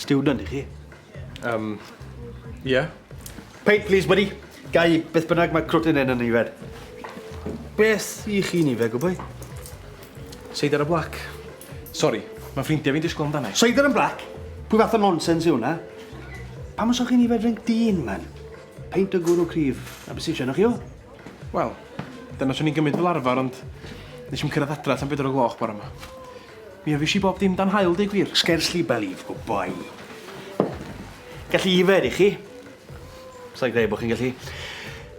Student i chi? Um, yeah. Paint, please, buddy. Gai beth bynnag mae crwtyn yn y nifer. Beth i chi nifer, gwybod? Seidr y blac. Sorry, mae ffrindiau fi'n disgwyl amdano. Seidr yn blac? Pwy fath o nonsens yw hwnna? Pam os o'ch chi'n nifer drink dyn, man? Peint o gwrw cryf, a be' sy isio arnoch chi o? Wel, dyna swn i'n gymryd fel arfer ond nes i'm cyrraedd adra tan bedwar o gloch bore 'ma. Mi ofish i bob dim dan haul deu gwir. Scarcely believable, boi. Gallu yfed i chi. Sai'n credu bod chi'n gallu.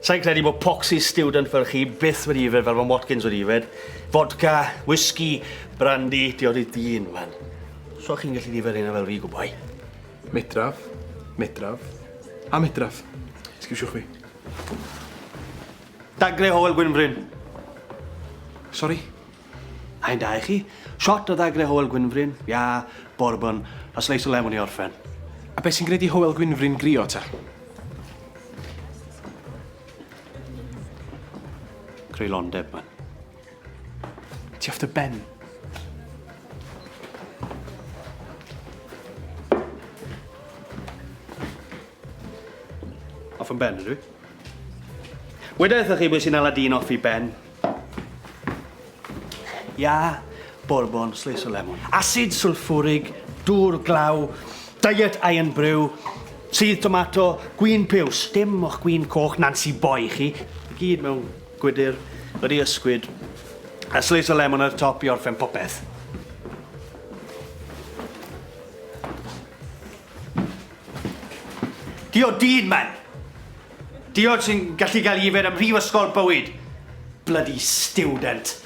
Sai'n credu bod poxy student fel chi byth wedi yfed fel mae Watkins wedi yfed. Fodca, whisky, brandy, diod i dyn, man. So chi'n gallu yfed hynna fel fi, gwboi? Medraf, medraf, a medraf. Sgisiwch fi. Dagle Howell Gwynfryn. Sori? Hain da i chi. Shot o ddagle Howell Gwynfryn, ia, bourbon, a sleis o lemon i orffen. A beth sy'n gwneud i Howell Gwynfryn grio ta? Creulondeb, man. Ti off dy ben? Off yn ben, ydw? Weda eitha chi beth sy'n ala dyn off i ben? Ia, bourbon, slis o lemon. Acid sulfurig, dŵr glaw, diet iron brew, sydd tomato, gwyn piws. Dim o'ch gwyn coch Nancy Boy chi. I gyd mewn Gwydr wedi ysgwyd. A slice o lemon ar y top i orffen popeth. Diod dyn, man! Diod sy'n gallu cael yfed ym mhrifysgol bywyd. Bloody student.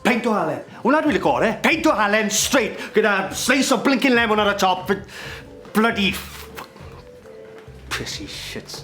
Peint o halen. Hwna dwi'n lico ore. Peint o halen straight gyda slice o blinkin lemon ar y top. Bloody... Prissy shits.